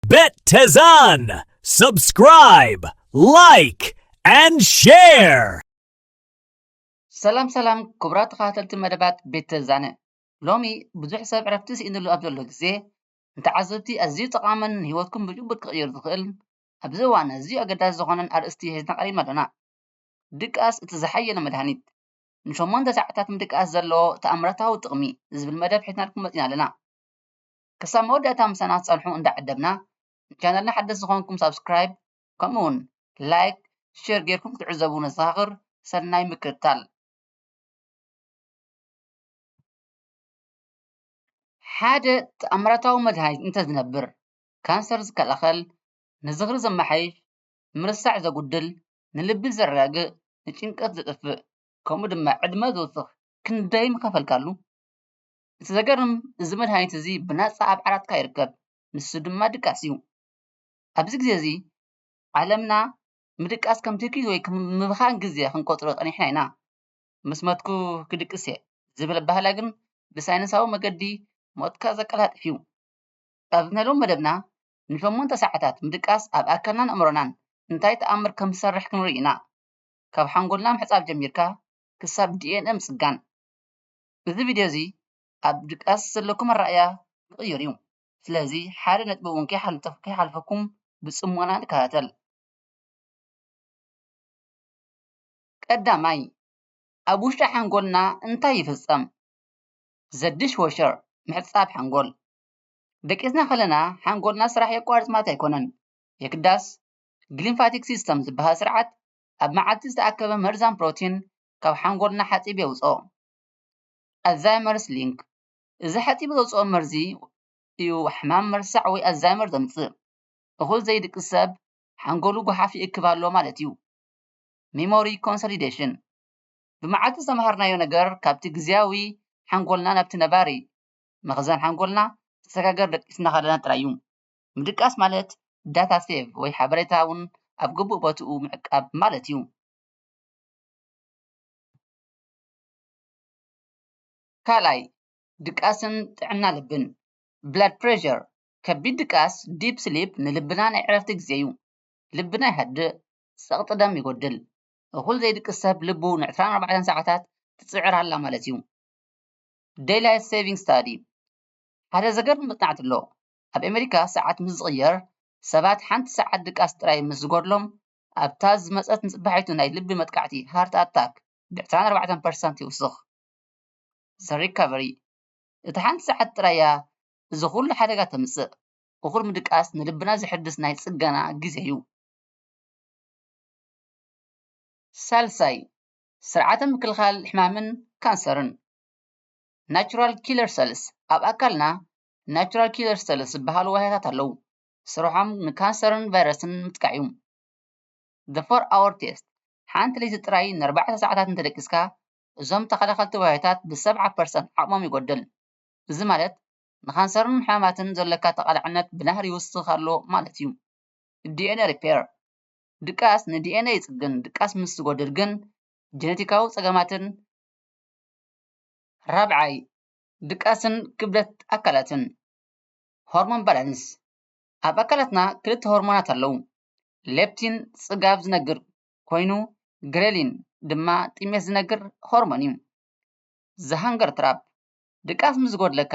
Bet Tezan! Subscribe, like, and share! ሰላም ሰላም ክቡራት ተኸታተልቲ መደባት ቤት ተዛነ ሎሚ ብዙሕ ሰብ ዕረፍቲ ስኢንሉ ኣብ ዘሎ ግዜ ንተዓዘብቲ ኣዝዩ ጠቓምን ንህይወትኩም ብጭቡጥ ክቕይር ዝኽእል ኣብዚ እዋን ኣዝዩ ኣገዳሲ ዝኾነን ኣርእስቲ ሒዝና ቀሪብና ኣሎና ድቃስ እቲ ዝሓየለ መድሃኒት ንሸሞንተ ሰዓታት ምድቃስ ዘለዎ ተኣምራታዊ ጥቕሚ ዝብል መደብ ሒዝናልኩም መፂና ኣለና ክሳብ መወዳእታ ምሳና ትጸንሑ እንዳዓደምና ንቻነልና ሓደስቲ ዝኾንኩም ሳብስክራይብ ከምኡ ውን ላይክ ሼር ጌርኩም ክትዕዘቡ ነዘኻኽር ሰናይ ምክትታል ሓደ ተኣምራታዊ መድሃኒት እንተዝነብር ካንሰር ዝከላኸል ንዝኽሪ ዘመሓይሽ ምርሳዕ ዘጉድል ንልቢ ዘረጋግእ ንጭንቀት ዘጥፍእ ከምኡ ድማ ዕድመ ዝውስኽ ክንደይ ምኸፈልካሉ እቲ ዘገርም እዚ መድሃኒት እዚ ብናጻ ኣብ ዓራትካ ይርከብ ንሱ ድማ ድቃስ እዩ ኣብዚ ግዜ እዚ ዓለምና ምድቃስ ከም ትኪ ወይ ከም ምብኻን ግዜ ክንቆጽሮ ጸኒሕና ኢና ምስ መትኩ ክድቅስ እየ ዝብል ኣባህላ ግን ብሳይነሳዊ መገዲ ሞትካ ዘቀላጥፍ እዩ ኣብ ናይ ሎሚ መደብና ንሸሞንተ ሰዓታት ምድቃስ ኣብ ኣካልናን ኣእምሮናን እንታይ ተኣምር ከም ዝሰርሕ ክንርኢ ኢና ካብ ሓንጎልና ምሕጻብ ጀሚርካ ክሳብ ዲኤንኤ ምጽጋን እዚ ቪድዮ እዚ ኣብ ድቃስ ዘለኩም ኣረኣእያ ክቕይር እዩ። ስለዚ ሓደ ነጥቢ እውን ከይሓልፈኩም ብጽሞና ንከታተል። ቀዳማይ፣ ኣብ ውሽጢ ሓንጎልና እንታይ ይፍጸም? The Dishwasher፣ ምሕጻብ ሓንጎል። ደቂስና ከለና ሓንጎልና ስራሕ የቋርጽ ማለት ኣይኮነን። የግዳስ፣ ግሊምፋቲክ ሲስተም ዝበሃል ስርዓት ኣብ መዓልቲ ዝተኣከበ መርዛም ፕሮቲን ካብ ሓንጎልና ሓጺብ የውጽኦ። ኣልዛይመርስ ሊንክ እዚ ሓጺብ ዘውጽኦ መርዚ እዩ ሕማም መርሳዕ ወይ ኣልዛይመር ዘምጽእ። እኹል ዘይድቅስ ሰብ ሓንጎሉ ጎሓፍ ይእክብ ኣሎ ማለት እዩ። ሚሞሪ ኮንሶሊደሽን ብመዓልቲ ዝተመሃርናዮ ነገር ካብቲ ግዝያዊ ሓንጎልና ናብቲ ነባሪ መኽዘን ሓንጎልና ክሰጋገር ደቂስና ከለና ጥራይ እዩ። ምድቃስ ማለት ዳታ ሴቭ ወይ ሓበሬታ እውን ኣብ ግቡእ ቦትኡ ምዕቃብ ማለት እዩ። ካልኣይ ድቃስን ጥዕና ልብን ብላድ ፕረሸር ከቢድ ድቃስ ዲፕ ስሊፕ ንልብና ናይ ዕረፍቲ ግዜ እዩ ልብና ይሃድእ ጸቕጢ ደም ይጎድል እኹል ዘይድቅስ ሰብ ልቡ ንዕስራን ኣርባዕተን ሰዓታት ትጽዕር ኣላ ማለት እዩ ደይ ላይፍ ሰቪንግ ስታዲ ሓደ ዘገርም መጽናዕቲ ኣሎ ኣብ ኣሜሪካ ሰዓት ምስ ዝቕየር ሰባት ሓንቲ ሰዓት ድቃስ ጥራይ ምስ ዝጎድሎም ኣብታ ዝመጸት ንጽባሒቱ ናይ ልቢ መጥቃዕቲ፣ heart attack፣ ብዕስራን ኣርባዕተን ፐርሰንት ይውስኽ። The Recovery፣ እታ ሓንቲ ሰዓት ጥራይ'ያ እዚ ኹሉ ሓደጋ ተምጽእ። እኹል ምድቃስ ንልብና ዘሐድስ ናይ ጽገና ግዜ'ዩ። ሳልሳይ፣ ስርዓተ ምክልኻል ሕማምን ካንሰርን፣ Natural Killer Cells፣ ኣብ ኣካልና Natural Killer Cells ዝበሃሉ ዋህያታት ኣለዉ። ስርሖም ንካንሰርን ቫይረስን ምጥቃዕ እዩ። The Four Hour Test፣ ሓንቲ ለይቲ ጥራይ ንኣርባዕተ ሰዓታት እንተደቂስካ፣ እዞም ተኸላኸልቲ ዋህዮታት ብሰብዓ ፐርሰንት ዓቕሞም ይጎድል። እዚ ማለት ንካንሰርን ሕማማትን ዘሎካ ተቓላዕነት ብናህሪ ይውስኽ ኣሎ ማለት እዩ። DNA Repair፣ ድቃስ ንዲኤንኤ ይጽግን፣ ድቃስ ምስ ዝጎድል ግን ጀነቲካዊ ጸገማትን። ራብዓይ፣ ድቃስን ክብደት ኣካላትን። ሆርሞን ባላንስ ኣብ ኣካላትና ክልተ ሆርሞናት ኣለዉ ሌፕቲን ጽጋብ ዝነግር ኮይኑ ግሬሊን ድማ ጥሜት ዝነግር ሆርሞን እዩ ዝሃንገር ትራፕ ድቃስ ምስ ዝጎድለካ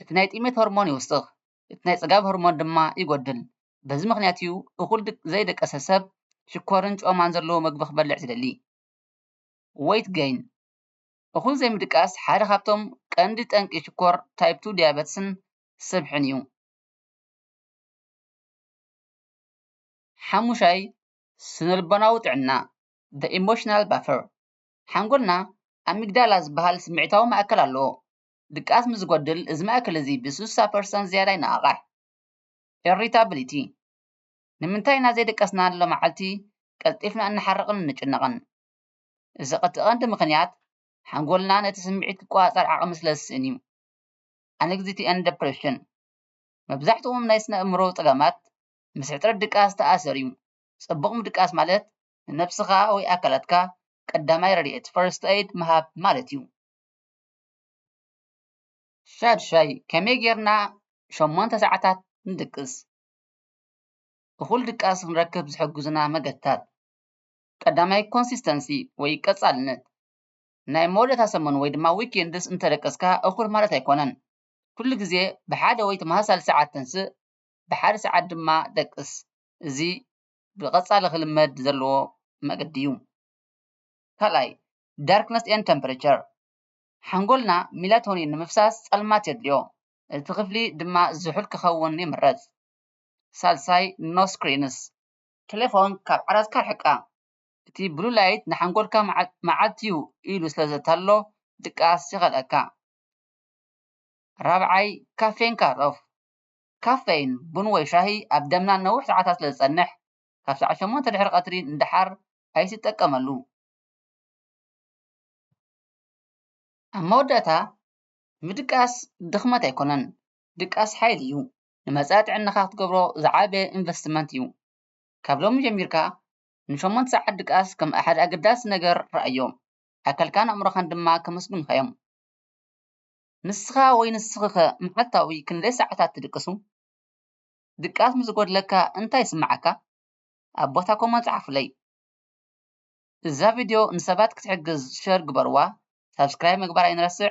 እቲ ናይ ጥሜት ሆርሞን ይውስኽ እቲ ናይ ጽጋብ ሆርሞን ድማ ይጎድል በዚ ምክንያት እዩ እኹል ዘይደቀሰ ሰብ ሽኮርን ጮማን ዘለዎ ምግቢ ክበልዕ ዝደሊ ወይት ገይን እኹል ዘይምድቃስ ሓደ ካብቶም ቀንዲ ጠንቂ ሽኮር ታይፕ ቱ ዲያበትስን ስብሕን እዩ። ሓሙሻይ ስነልቦናዊ ጥዕና the emotional buffer ሓንጎልና ኣሚግዳላ ዝበሃል ስምዒታዊ ማእከል ኣለዎ። ድቃስ ምስ ዝጎድል እዚ ማእከል እዚ ብስሳ ፐርሰንት ዝያዳ ይነቓቓሕ። ኢሪታብሊቲ ንምንታይ ኢና ዘይደቀስና ሎማዓልቲ ቀልጢፍና እንሓርቕን እንጭነቕን? እዚ እቲ ቀንዲ ምኽንያት ሓንጎልና ነቲ ስምዒት ክቆጻጸር ዓቕሚ ስለ ዝስእን እዩ። ኣንግዝይቲ ኤንድ ደፕረሽን፣ መብዛሕትኦም ናይ ስነ-ኣእምሮ ጸገማት ምስ ሕጽረት ድቃስ ዝተኣሰር እዩ። ጽቡቕ ምድቃስ ማለት ንነብስኻ ወይ ኣካላትካ ቀዳማይ ረድኤት፣ First Aid፣ ምሃብ ማለት እዩ። ሻድሻይ፣ ከመይ ጌርና ሸሞንተ ሰዓታት ንድቅስ? እኹል ድቃስ ክንረክብ ዝሕግዙና መገድታት። ቀዳማይ ኮንሲስተንሲ ወይ ቀጻልነት ናይ መወዳእታ ሰሙን ወይ ድማ ዊኬንድስ እንተደቀስካ እኹል ማለት ኣይኮነን። ኩሉ ግዜ ብሓደ ወይ ተመሳሳሊ ሰዓት ተንስእ ብሓደ ሰዓት ድማ ደቅስ። እዚ ብቐጻሊ ክልመድ ዘለዎ መገዲ እዩ። ካልኣይ፣ ዳርክነስ ኤንድ ተምፕሬቸር፣ ሓንጎልና ሚላቶኒን ንምፍሳስ ጸልማት የድልዮ፣ እቲ ክፍሊ ድማ ዝሑል ክኸውን ይምረጽ። ሳልሳይ፣ ኖ ስክሪንስ፣ ተሌፎን ካብ ዓራትካ ኣርሕቃ፣ እቲ ብሉ ላይት ንሓንጎልካ መዓት'ዩ ኢሉ ስለ ዘታልሎ ድቃስ ይኸልኣካ። ራብዓይ፣ ካፌን ካት ኦፍ፣ ካፈይን፣ ቡን ወይ ሻሂ፣ ኣብ ደምና ንነዊሕ ሰዓታት ስለ ዝጸንሕ፣ ካብ ሰዓት ሸሞንተ ድሕሪ ቀትሪ ንደሓር ኣይትጠቀመሉ። ኣብ መወዳእታ፣ ምድቃስ ድኽመት ኣይኮነን፣ ድቃስ ሓይሊ'ዩ። ንመጻኢ ጥዕናኻ ክትገብሮ ዝዓበየ ኢንቨስትመንት እዩ። ካብ ሎሚ ጀሚርካ ንሸሞንተ ሰዓት ድቃስ ከም ሓደ ኣገዳሲ ነገር ርኣዮ፣ ኣካልካን ኣእምሮኻን ድማ ከመስግኑኻ እዮም። ንስኻ ወይ ንስኺኸ መዓልታዊ ክንደይ ሰዓታት ትድቅሱ? ድቃስ ምስ ዝጎድለካ እንታይ ይስምዓካ? ኣብ ቦታ ኮመንት ጸሓፉለይ። እዛ ቪድዮ ንሰባት ክትሕግዝ ሸር ግበርዋ፣ ሳብስክራይብ ምግባር ኣይንረስዕ፣